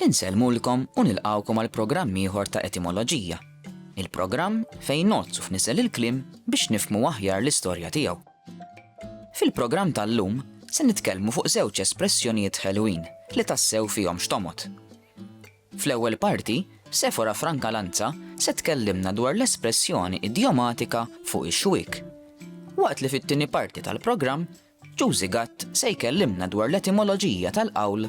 Insellmulkom u nilqgħukom għal programm ieħor ta' Etimoloġija, il-programm fejn ngħodd u fnisel il-kliem biex nifhmu aħjar l-istorja tiegħu. Fil-programm tal-lum se nitkellmu fuq żewġ espressjonijiet ħelwin li tassew fihom x'tomgħod. Fl-ewwel parti, Sefora Franca Lanza se tkellimna dwar l-espressjoni idjomatika fuq ix-xwiek, waqt li fit-tieni parti tal-programm Ġużi Gatt se jkellimna dwar l-etimoloġija tal-qawl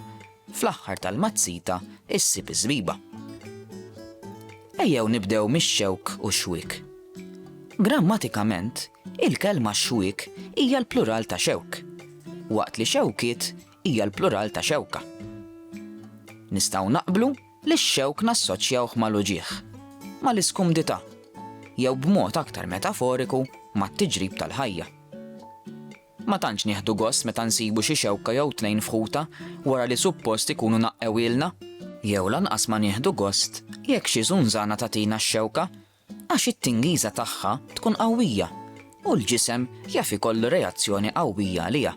Fl-aħħar tal-mazzita issib iż-żbiba. Ejjew nibdew mix-xewk u x-xwiek. Grammatikament, il-kelma xwiek hija l-plural ta' xewk, waqt li xewkiet hija l-plural ta' xewka. Nistgħu naqblu li x-xewk nassoċjawh mal-uġigħ, mal-iskumdità, jew b'mod aktar metaforiku mat-tiġrib tal-ħajja. Ma tantx nieħdu gost meta nsibu xi xewka jew tnejn f'ħutha wara li suppost ikunu naqqewhielna, jew lanqas ma nieħdu gost jekk xi żunżana tagħtina x-xewka għax it-tingiża tagħha tkun qawwija u l-ġisem jaf ikollu reazzjoni qawwija għaliha.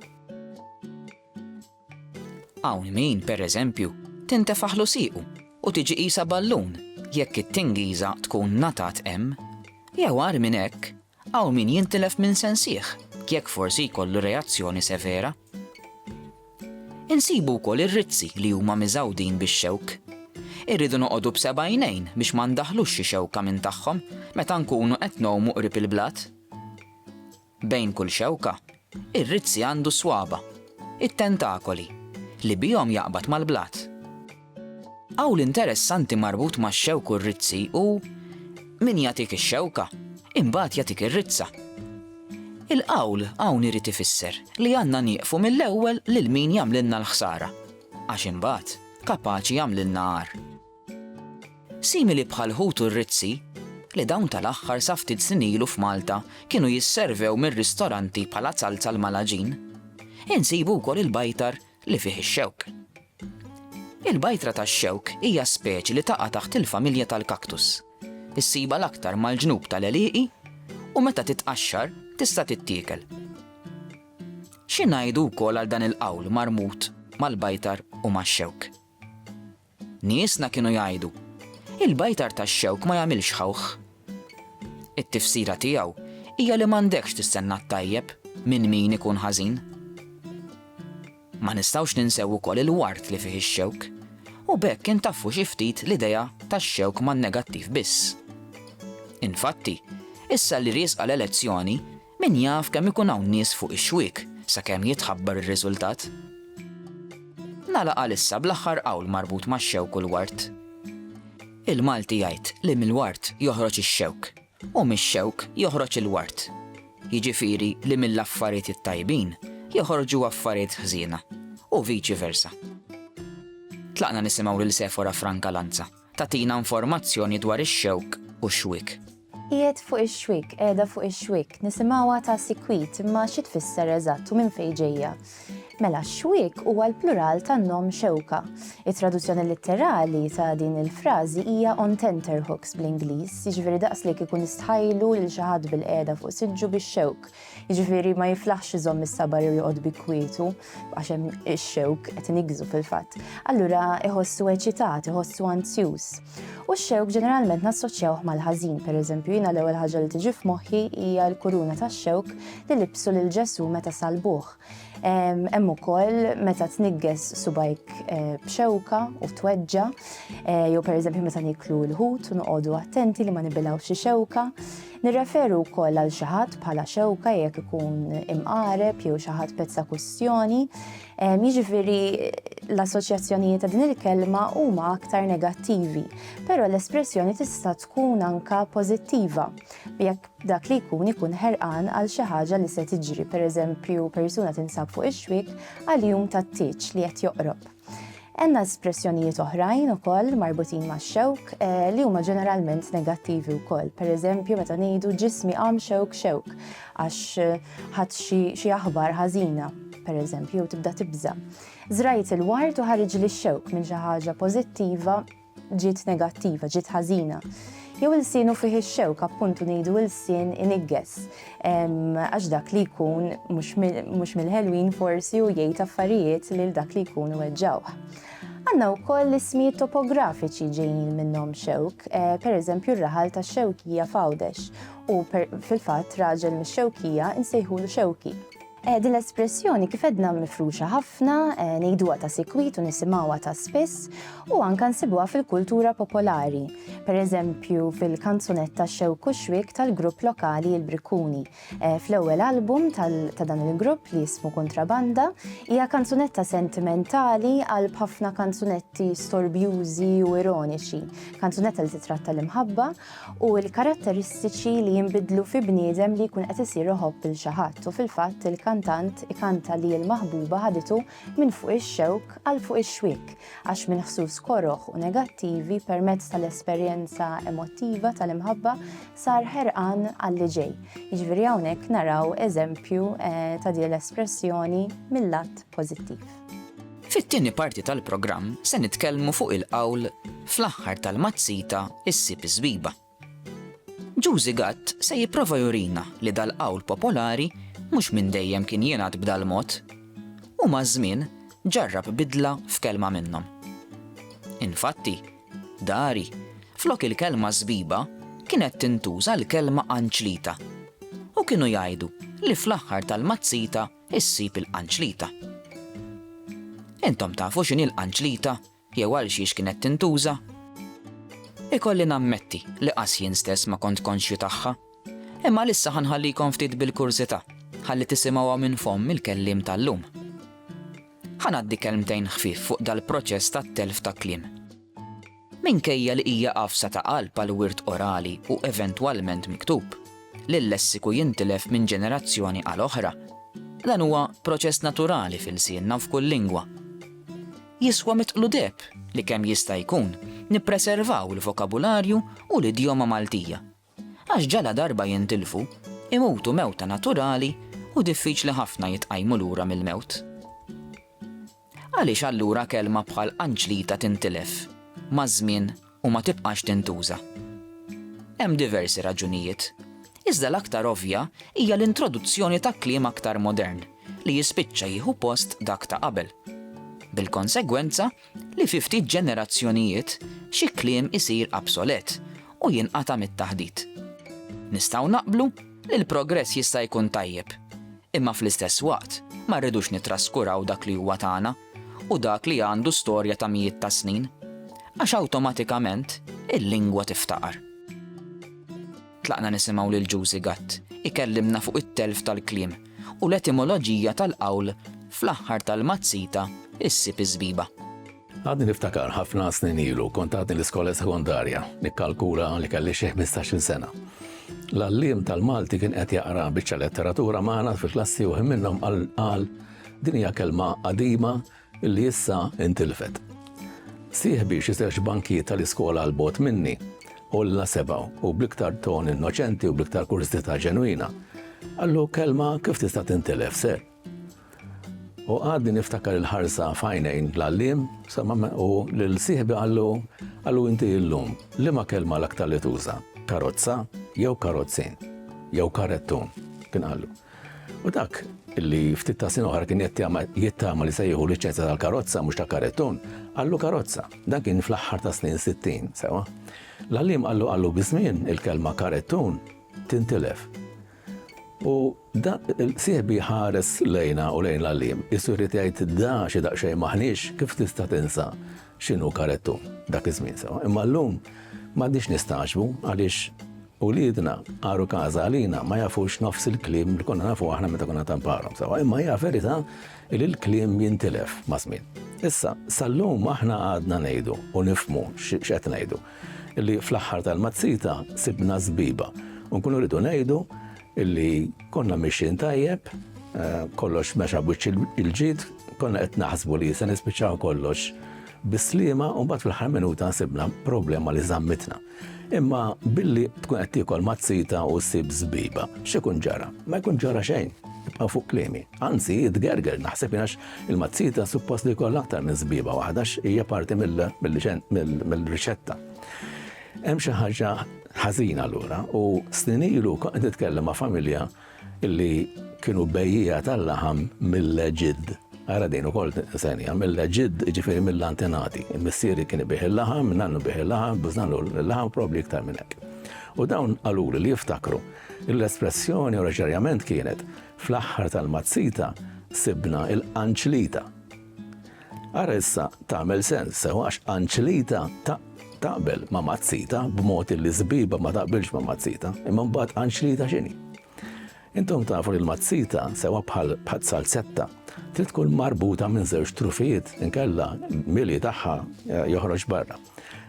Hawn min, pereżempju, tintefaħlu siequ u tiġi qisha ballun jekk it-tingiża tkun ngħatat hemm, jew agħar minn hekk, Hawn min jintilef minn sensih jekk forsi jkollu reazzjoni severa. Insibu wkoll ir-rizzi li huma miżgħudin bix-xewk. Irridu noqogħdu b'seba' għajnejn biex ma ndaħħlux xi xewka minn tagħhom meta nkunu qed ngħumu qrib il-blat. Bejn kull xewka Ir-rizzi għandu s-swaba', it-tentakoli, li bihom jaqbad mal-blat. Qawl interessanti marbut max-xewk u r-rizzi hu, Min jagħtik ix-xewka, imbagħad jagħtik ir-rizza. Il-qawl hawn irid ifisser li għandna nieqfu mill-ewwel lil min jagħmlilna l-ħsara, għax imbagħad kapaċi jagħmlilna għar. Simili bħall-ħut u r-rizzi, li dawn tal-aħħar sa ftit snin ilu f'Malta kienu jisservew mir-ristoranti bħala zalza l-malaġin, insibu wkoll il-bajtar li fih ix-xewk. Il-bajtra tax-xewk hija speċi li taqa' taħt il-familja tal-cactus. Issibha l-aktar mal-ġnub tal-għelieqi u meta titqaxxar tista' tittiekel. Xi ngħidu wkoll għal dan il-qawl marbut mal-bajtar u max-xewk? Niesna kienu jgħidu, Il-bajtar tax-xewk ma jagħmilx ħawħ. It-tifsira tiegħu hija li m'għandekx tistenna t-tajjeb minn min ikun ħażin. Ma nistgħux ninsew ukoll il-ward li fih ix-xewk, u b'hekk intaffu xi ftit l-idea tax-xewk man-negattiv biss. Infatti, issa li riesqa l-elezzjoni, Min jaf kemm ikun hawn nies fuq ix-xwiek sakemm jitħabbar ir-riżultat? Nagħlaq għalissa bl-aħħar qawl marbut max-xewk u l-ward. Il-Malti jgħid li mill-ward joħroġ ix-xewk u mix-xewk joħroġ il-ward. Jiġifieri li mill-affarijiet it-tajbin joħorġu affarijiet ħżiena u viċi versa. Tlaqna nisimgħu lil Sefora Franca Lanza. Tagħtina informazzjoni dwar ix-xewk u x-xwiek. Qiegħed fuq ix-xwiek, qiegħda fuq ix-xwiek, nisimgħuha ta' sikwit imma xi tfisser eżatt u minn fejn ġejja? Mela x-xwiek huwa l-plural tan-nom xewka. It-traduzzjoni litterali ta' din il-frażi hija on tenterhooks bl-Ingliż, jiġifieri daqslik ikun istħajlu lil xi ħadd bilqiegħda fuq siġġu bix-xewk. Jiġifieri ma jiflaħx iżomm is-saba' jew joqgħod bi kwietu għax hemm ix-xewk qed inigżu fil-fatt. Allura iħossu eċitat, iħossu anzjuż. U x-xewk ġeneralment nassoċjawh mal-ħażin, pereżempju jiena l-ewwel ħaġa li tiġi f'moħħi hija l-kuruna tax-xewk li libsu lil Ġesù meta salbuh. Hemm ukoll meta tnigges subajk eh, b'xewka u tweġġa, eh, jew pereżempju meta niklu l-ħut u noqogħdu attenti li ma nibilgħux xi xewka. Nirreferu wkoll għal xi ħadd bħala xewka jekk ikun imqareb jew xi ħadd pezza kwistjoni. Jiġifieri l-assoċjazzjonijiet ta' din il-kelma huma aktar negattivi, però l-espressjoni tista' tkun anka pożittiva. Jekk Dak li jkun ikun ħerqan għal xi ħaġa li se tiġri, pereżempju persuna tinsab fuq ix-xwiek għal jum tat-tieġ li qed joqrob. Għandna espressjonijiet oħrajn ukoll marbutin max-xewk eh, li huma ġeneralment negattivi wkoll. Pereżempju meta ngħidu ġismi qam xewk xewk għax eh, ħadd xi aħbar ħażina per eżempju, jew tibda tibża. Zrajt il-wart u ħarġ li xewk minn xi ħaġa pożittiva ġiet negattiva, ġiet ħażina. Jew il-sienu fih ix-xewk, appuntu ngħidu il-sien inigges, għax dak li jkun mhux mill-ħelwin forsi u jgħid affarijiet lil dak li jkun weġġawh. Għanna u koll l-ismijiet topografiċi ġejjin minnom xewk, eh, per eżempju r-raħal ta' xewkija fawdex u fil-fat raġel mis xewkija insejħulu xewki. Din l-espressjoni kif għedna mifruxa ħafna, ngħiduha ta' sikwit u nisimgħuha ta' spiss u anke nsibuha fil-kultura popolari. Pereżempju fil-kanzunetta Xewk u Xwiek tal-grupp lokali Il-Brikkuni. Fl-ewwel album ta' dan il-grupp li jismu Kuntrabanda hija kanzunetta sentimentali qalb ħafna kanzunetti storbjużi u ironiċi. Kanzunetta li titratta l-imħabba u l-karatteristiċi li jinbidlu fi bniedem li jkun qed isir iħobb lil xi ħadd u fil-fatt il-kantant ikanta li l-maħbuba ħaditu minn fuq ix-xewk għal fuq ix-xwiek għax minn ħsus koroh u negattivi permezz tal-esperjenza emottiva tal-imħabba sar ħerqan għall-li ġej. Jiġifieri hawnhekk naraw eżempju eh, ta' din l-espressjoni mill-lat pożittiv. Fit-tieni parti tal-programm se nitkellmu fuq il-qawl Fl-aħħar tal-mazzita issib iż-żbiba. Ġużi Gatt se jipprova jurina li dal-qawl popolari mhux minn dejjem kien jingħad b'dal-mod u maż-żmien ġarrab bidla f'kelma minnhom. Infatti, dari, flok il-kelma żbiba kienet tintuża l-kelma anċlita u kienu jgħidu li fl-aħħar tal-mazzita Issib il-qanċlita. Intom tafu x'inhi l-qanċlita jew għal xiex kienet tintuża? Ikolli nammetti li qas jien stess ma kont konxju tagħha, imma lissa ħanħallikom ftit bil-kurżità ħalli tisimgħuha minn fomm il-kelliem tal-lum. Ħanaddi kelmtejn ħfif fuq dal-proċess tat-telf ta' kliem. Minkejja li hija għafsa ta' qalb għall-wirt orali u eventwalment miktub, li l-lessiku jintilef minn ġenerazzjoni għal oħra, dan huwa proċess naturali f'ilsienna u f'kull lingwa. Jiswa mitqludeb li kemm jista' jkun nippreservaw il-vokabularju u l-idjoma Maltija. Għax ġala darba jintilfu, imutu mewta naturali u diffiċli ħafna jitqajmu lura mill-mewt. Għaliex allura kelma bħal qanċlita tintilef maż-żmien u ma tibqax tintuża? Hemm diversi raġunijiet, iżda l-aktar ovvja hija l-introduzzjoni ta' kliem aktar modern li jispiċċa jieħu post dak ta' qabel. Bil-konsegwenza, li fi ftit ġenerazzjonijiet xi kliem isir absolet u jinqata' mit-taħdit. Nistgħu naqblu li l-progress jista' jkun tajjeb, imma fl-istess waqt ma rridux nittraskuraw dak li huwa tagħna u dak li għandu storja ta' mijiet ta' snin, għax awtomatikament il-lingwa tiftaqar. Tlaqna nisimgħu lil Ġużi Gatt ikellimna fuq it-telf tal-kliem u l-etimoloġija tal-qawl fl-aħħar tal-mazzita issib iż-żbiba. Għadni niftakar ħafna snin ilu kont għadni l-iskola sekondarja, nikkalkula li kelli xi ħmistax-il sena. L-għalliem tal-Malti kien qed jaqra biċċa letteratura magħna fil-klassi u ħin minnhom qal, Din hija kelma qadima li issa intilfet. Sieħbi xi żewġ bankijiet tal-iskola għal bogħod minni, għolla sebgħu u bl-iktar ton innoċenti u bl-iktar kurżità ġenwina, qallu kelma kif tista' tintilef, Sir? U għadni niftakar il-ħarsa f'għajnejn l-għalliem, u lil sieħbi qallu, qallu inti illum, liema kelma l-aktar li tuża, karozza jew karozzin, jew karettun, kien qallu. U dak li ftit ta' sin oħra kien jittama li se jieħu liċenzja tal-karozza mhux ta' karettun, qallu karozza. Dan kien fl-aħħar ta' snin 60, sewa. L-għallim qallu qallu biż-żmien il-kelma karettun tintilef. U sieħbi ħares lejna u lejn l-għallim, isu jrid jgħid da xi daqsxejn maħniex kif tista' tinsa x'inhu karettun dak iż-żmien sewa. Imma llum m'għandniex nistagħġbu għaliex Uliedna għaru każa għalina ma jafux nofs il-kliem li konna nafu aħna meta konna tanparhom sewwa, imma hija verità li l-kliem jintilef maż-żmien. Issa, sal-lum aħna għadna ngħidu u nifhmu x'qed ngħidu, li fl-aħħar tal-mazzita sibna żbiba u nkunu rridu ngħidu li konna mixjin tajjeb, kollox mexa b'wiċċ il-ġid, konna qed naħsbu li se nispiċċaw kollox bis-sliema u mbagħad fl-aħħar minuta sibna problema li żammitna. Imma billi tkun qed tiekol mazzita u ssib żbiba, x'ikun ġara? Ma jkun ġara xejn. Ibqa' fuq kliemi. Anzi, tgerger naħseb għax il-mazzita suppost li jkollha aktar minn żbiba waħda hija parti mill-riċetta. Hemm xi ħaġa ħażina allura u snin ilu kont nitkellem ma' familja Illi kienu bejjiegħa tal-laħam mill-Eġidd. Ara din ukoll senja, mill-Eġidd jiġifieri mill-antenati. Missieri kien ibigħ il-laħam, nannu bigħ il-laħam, bżnannu l-laħam probabbli iktar minn hekk. U dawn qaluli li jiftakru l-espressjoni oriġinarjament kienet fl-aħħar tal-mazzita sibna l-qanċlita. Ara issa tagħmel sens sew għax Anċlita taqbel ma' Mazzita b'mod li Żbiba ma taqbilx ma' Mazzita, imma mbagħad Anċlita x'inhi? Intom tafu li l-Mazzita sewa bħal bħal salzetta trid tkun marbuta minn żewġ trufijiet inkella mili tagħha eh, joħroġ barra.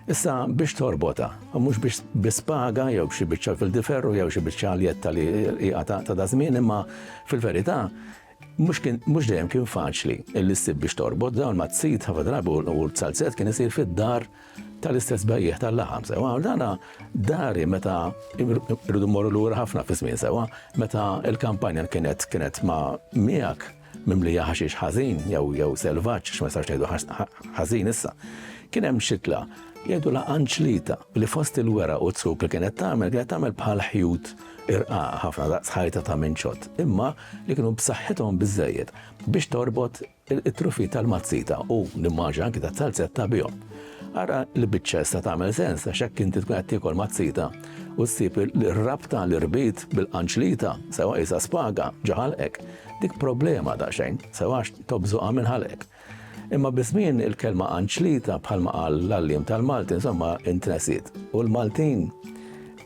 Issa biex torbota, mhux biex bispaga jew xi biċċa fil-diferru jew xi biċċa aljetta li hija ta' dażmin imma fil-verità Mhux dejjem kien faċli li ssib biex torbot, dawn mat-sit ħafna drabi u l-bsalzett kien isir fid-dar tal-istess bejjiegħ tal-laħam sewwa. Dana dari meta rridu mmorru lura ħafna fiż-żmien sewwa, meta l-kampanja kienet kienet ma' miegħek mimlija ħaxix ħażin jew jew selvaġġ għax ma nistgħux ngħidu ħażin issa. Kien hemm xitla jgħidulha anċlita li fost il-weraq u t-zuk li kienet tagħmel kienet tagħmel bħal ħjut irqaq ħafna daqs ħajta ta' minċott, imma li kienu b'saħħithom biżżejjed biex torbot it-truffi tal-mazzita u, nimmaġina, anki tas-salzetta bihom. Ara li biċċa issa tagħmel sens għax hekk inti tkun qed tiekol mazzita u ssib li r-rabta li rbit bil-qanċlita sewwa qisha spaga ġo ħalqek. Dik problema daqsxejn, sewwa għax tobżoqha minn ħalqek. Imma biż-żmien il-kelma anċlita, bħalma qal l-għalliem tal-Malti, insomma, intresiet. U l-Maltin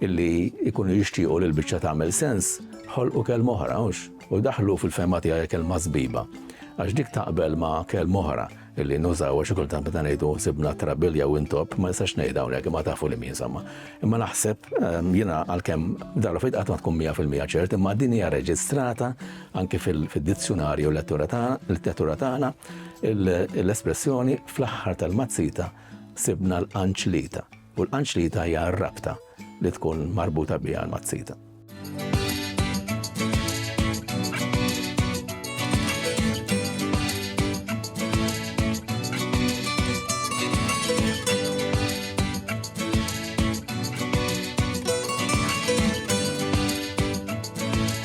illi jkunu jixtiequ li l-biċċa tagħmel sens, ħolqu kelma oħra, hux? U daħlu fil-fema tiegħi kelma sbiba. Għax dik taqbel ma' kelma oħra illi nużaw għax kultant meta ngħidu sibna trabilja u intop, ma nistax ngħid hawnhekk imma tafu li min insomma. Imma naħseb ehm, jiena għalkemm darba fejn qatt ma tkun 100% ċert, imma din hija reġistrata Anki fid-dizzjunarju l-letteratura tagħna, l-espressjoni fl-aħħar tal-mazzita sibna l-qanċlita, u l-qanċlita hija r-rabta li tkun marbuta biha l-mazzita.